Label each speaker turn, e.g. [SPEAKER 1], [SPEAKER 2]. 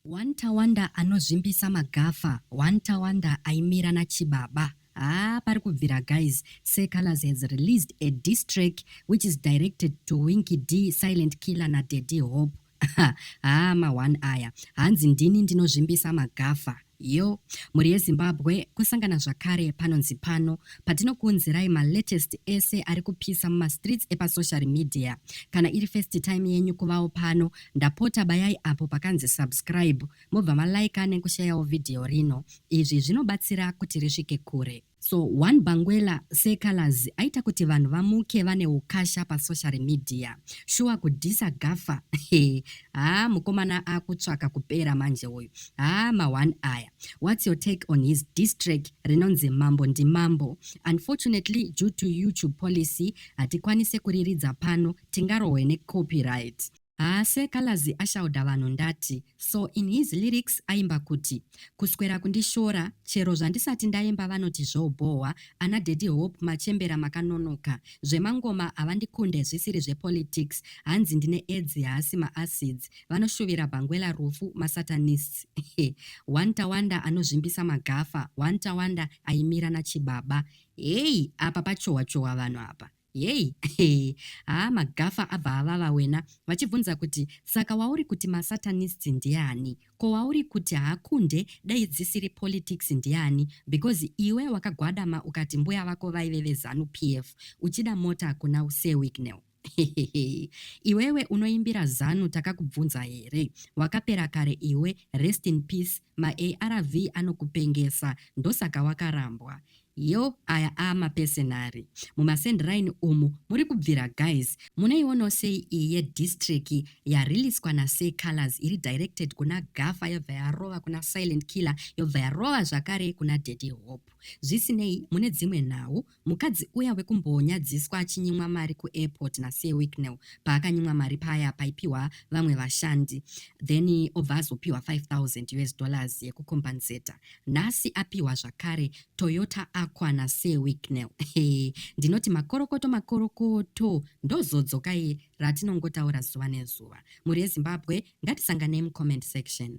[SPEAKER 1] One Tawanda anozvimbisa magafa one Tawanda aimira nachibaba haa pari kubvira guys sir colors has released a diss track which is directed to winky d silent killer nadaddy hope haa ma-one aya hanzi ndini ndinozvimbisa magafa yo mhuri yezimbabwe kusangana zvakare panonzi pano patinokuunzirai malatest ese ari kupisa mumastreets epasocial media kana iri first time yenyu kuvawo pano Ndapota bayai apo pakanzi subscribe mobva ma liker nekushayawo video rino. Izvi zvinobatsira kuti risvike kure. So one Bangwela se Calaz aita kuti vanhu vamuke vane ukasha pa social media. Shuwa kudhisa Gaffa hee haa mukomana akutsvaka kupera manje uyu. Haa ma one aya. What's your take on his diss track rinonzi Mambo ndi Mambo? Unfortunately due to YouTube policy hatikwanise kuriridza pano tingarohwe ne copyright. Haa sir calaz ashaudha vanhu ndati so in his lyrics aimba kuti kuswera kundishora chero zvandisati ndaimba vanoti zvobhohwa ana daddy hope machembera makanonoka zvemangoma havandikunde zvisiri zvepolitics hanzi ndine edzi haasi maacids vanoshuvira bhangwela rufu masatanists one tawanda anozvimbisa magafa one tawanda aimira nachibaba heyi apa pachohwa chohwa vanhu apa Yei? Haa maGaffa abva avava wena vachibvunza kuti saka wauri kuti maSatanists ndiani? Ko wauri kuti haakunde dai dzisiri politics ndiani because iwe wakagwadama ukati mbuya vako vaive veZanu PF uchida mota kuna Sir Wicknell. Hehehe iwewe unoimbira Zanu takakubvunza here? Wakapera kare iwe, rest in peace, maARV anokupengesa ndosaka wakarambwa. Yoo aya aamapesenari. Muma send raini umu muri kubvira guys. Munoionawo sei iyi ye diss track yariliswa na Sir Calaz iri directed kuna Gaffa yobva yarova kuna Silent Killer yobva yarova zvakare kuna Daddy Hope. Zvisinei mune dzimwe nhau, mukadzi uya wekumbonyadziswa achinyimwa mari ku airport na Sir Wicknell paakanyimwa mari paya paipiwa vamwe vashandi then obva azopiwa 5000 us dollars yeku compensator. Nhasi apiwa zvakare Toyota Aqua naSir Wicknell. Hey, ndinoti makorokoto makorokoto ndozodzoka iye ratinongotaura zuva nezuva. Mhuri yeZimbabwe ngatisanganei mucomment section.